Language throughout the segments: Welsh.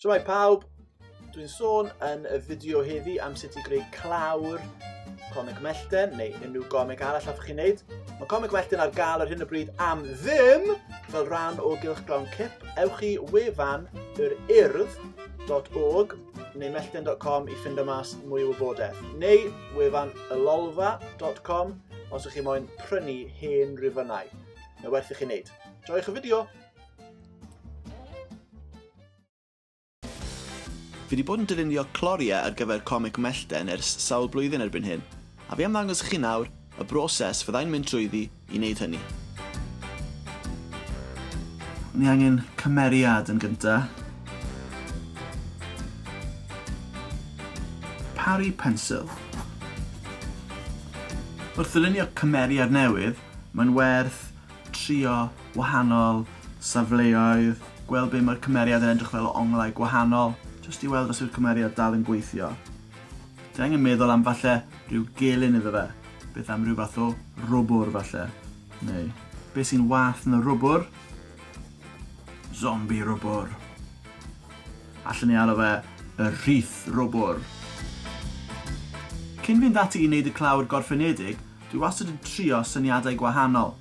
Shwmae pawb, dwi'n sôn yn y fideo heddi am sut i greu clawr comic mellten neu unrhyw gomic arall allwch chi wneud. Mae comic mellten ar gael ar hyn o bryd am ddim fel rhan o gylch glawn cip. Ewch i wefan yr urdd.org neu mellten.com i ffind o mas mwy o wybodaeth. Neu wefan ylolfa.com os ych chi moyn prynu hen rifynnau. Mae werth i chi wneud. Joiwch y fideo! Fi wedi bod yn dylunio cloriau ar gyfer comic mellten ers sawl blwyddyn erbyn hyn, a fi am ddangos i chi nawr y broses fyddai'n mynd trwyddi i wneud hynny. Ni angen cymeriad yn gynta. Paru pensil. Wrth ddylunio cymeriad newydd, mae'n werth trio wahanol safleoedd, gweld be mae'r cymeriad yn edrych fel o onglau gwahanol, jyst i weld os yw'r cymeriad dal yn gweithio. Ti angen meddwl am falle rhyw gelyn iddo fe, beth am rhyw fath o rwbwr falle, neu beth sy'n wath na rwbwr? Zombie rwbwr. Allen ni alw fe y rhith rwbwr. Cyn fynd ati i wneud y clawr gorffenedig, Dwi wastad yn trio syniadau gwahanol.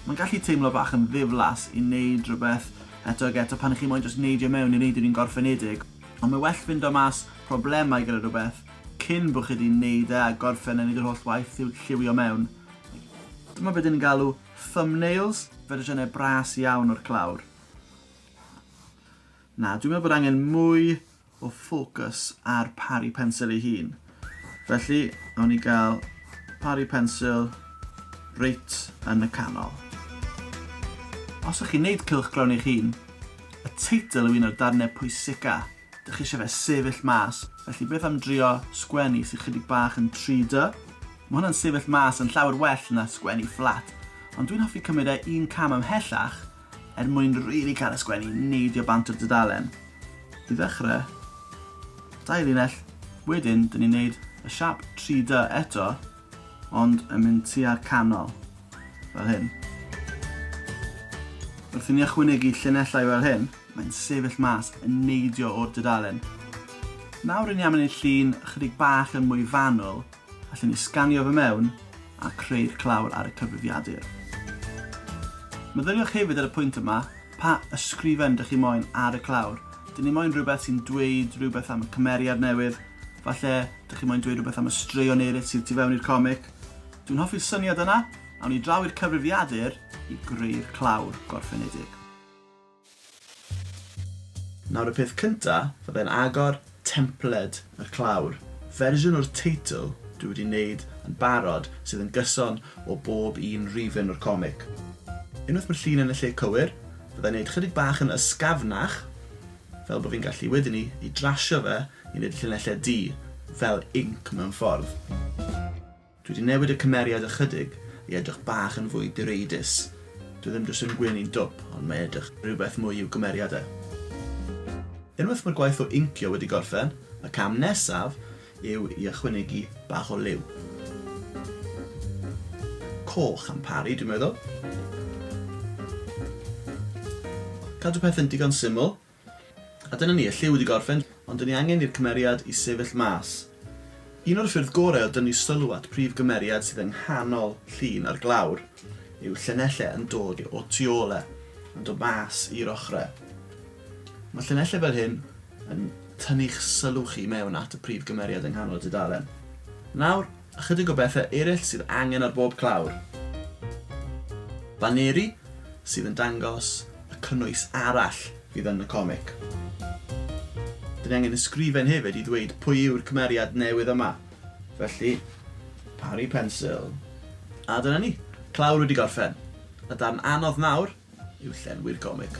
Mae'n gallu teimlo bach yn ddiflas i wneud rhywbeth eto ac eto pan 'y chi moyn jyst neidio mewn i wneud yr un gorffenedig, ond mae well ffindo mas problemau gyda rhywbeth cyn bo' chi 'di wneud e a gorffen a wneud yr holl waith i'w lliwio mewn. Dyma be 'dyn ni'n galw thumbnails, fersiynau bras iawn o'r clawr. Na, dwi'n meddwl bod angen mwy o ffocws ar pari pensil ei hun. Felly, awn ni gael pari pensil reit yn y canol. Os ych chi'n neud cylchgrawn eich hun, y teitl yw un o'r darnau pwysica, dych chi eisiau fe sefyll mas, felly beth am drio sgwennu sydd chydig bach yn 3D? Mae hwnna'n sefyll mas yn llawer well na sgwennu fflat, ond dwi'n hoffi cymryd e un cam ymhellach Er mwyn rili cael y sgwennu i neidio bant o'r dudalen. I ddechrau, dau linell, wedyn dyn ni'n neud y siap 3-dy eto ond yn mynd tua'r canol, fel hyn. Wrth i ni ychwanegu llinellau fel hyn, mae'n sefyll mas yn neidio o'r dudalen. Nawr ry'n ni am wneud llun ychydig bach yn mwy fanwl, Allen ni sganio fo mewn a creu'r clawr ar y cyfrifiadur. Meddyliwch hefyd ar y pwynt yma, pa ysgrifen dych chi moyn ar y clawr. Dyn ni moyn rhywbeth sy'n dweud rhywbeth am y cymeriad newydd, falle dych chi moyn dweud rhywbeth am y straeon eraill sydd tu fewn i'r comic. Dwi'n hoffi'r syniad yna, awn ni draw i'r cyfrifiadur i greu'r clawr gorffenedig. Nawr y peth cynta, fyddai'n agor templed y clawr, fersiwn o'r teitl dwi wedi neud yn barod sydd yn gyson o bob un rifyn o'r comic. Unwaith ma'r llun yn y lle cywir, fyddai'n neud chydig bach yn ysgafnach fel bo fi'n gallu wedyn 'ny i drasio fe i neud y llinellau du fel inc mewn ffordd. Dwi 'di newid y cymeriad ychydig i edrych bach yn fwy direidus. Dwi ddim jyst yn gwyn i'n dwp, ond mae edrych rhywbeth mwy i'w gymeriad e. Unwaith mae'r gwaith o incio wedi gorffen, y cam nesaf yw i ychwynegu bach o liw. Coch am Parry, dwi'n meddwl. Cadw pethau'n digon syml, A dyna ni, y lliw wedi gorffen, ond dyn ni angen i'r cymeriad i sefyll mas. Un o'r ffyrdd gorau o dynnu sylw at prif gymeriad sydd yng nghanol llun ar glawr yw llinellau yn dod o tu ôl e, yn dod mas i'r ochrau. Mae llinellau fel hyn yn tynnu'ch sylw chi mewn at y prif gymeriad yng nghanol y dudalen. Nawr, Ychydig o bethau eraill sydd angen ar bob clawr. Baneri sydd yn dangos y cynnwys arall fydd yn y comic. Dyn ni angen ysgrifen hefyd i ddweud pwy yw'r cymeriad newydd yma. Felly, pari pensil. A dyna ni, clawr wedi gorffen. Y darn anodd nawr yw llenwi'r gomig.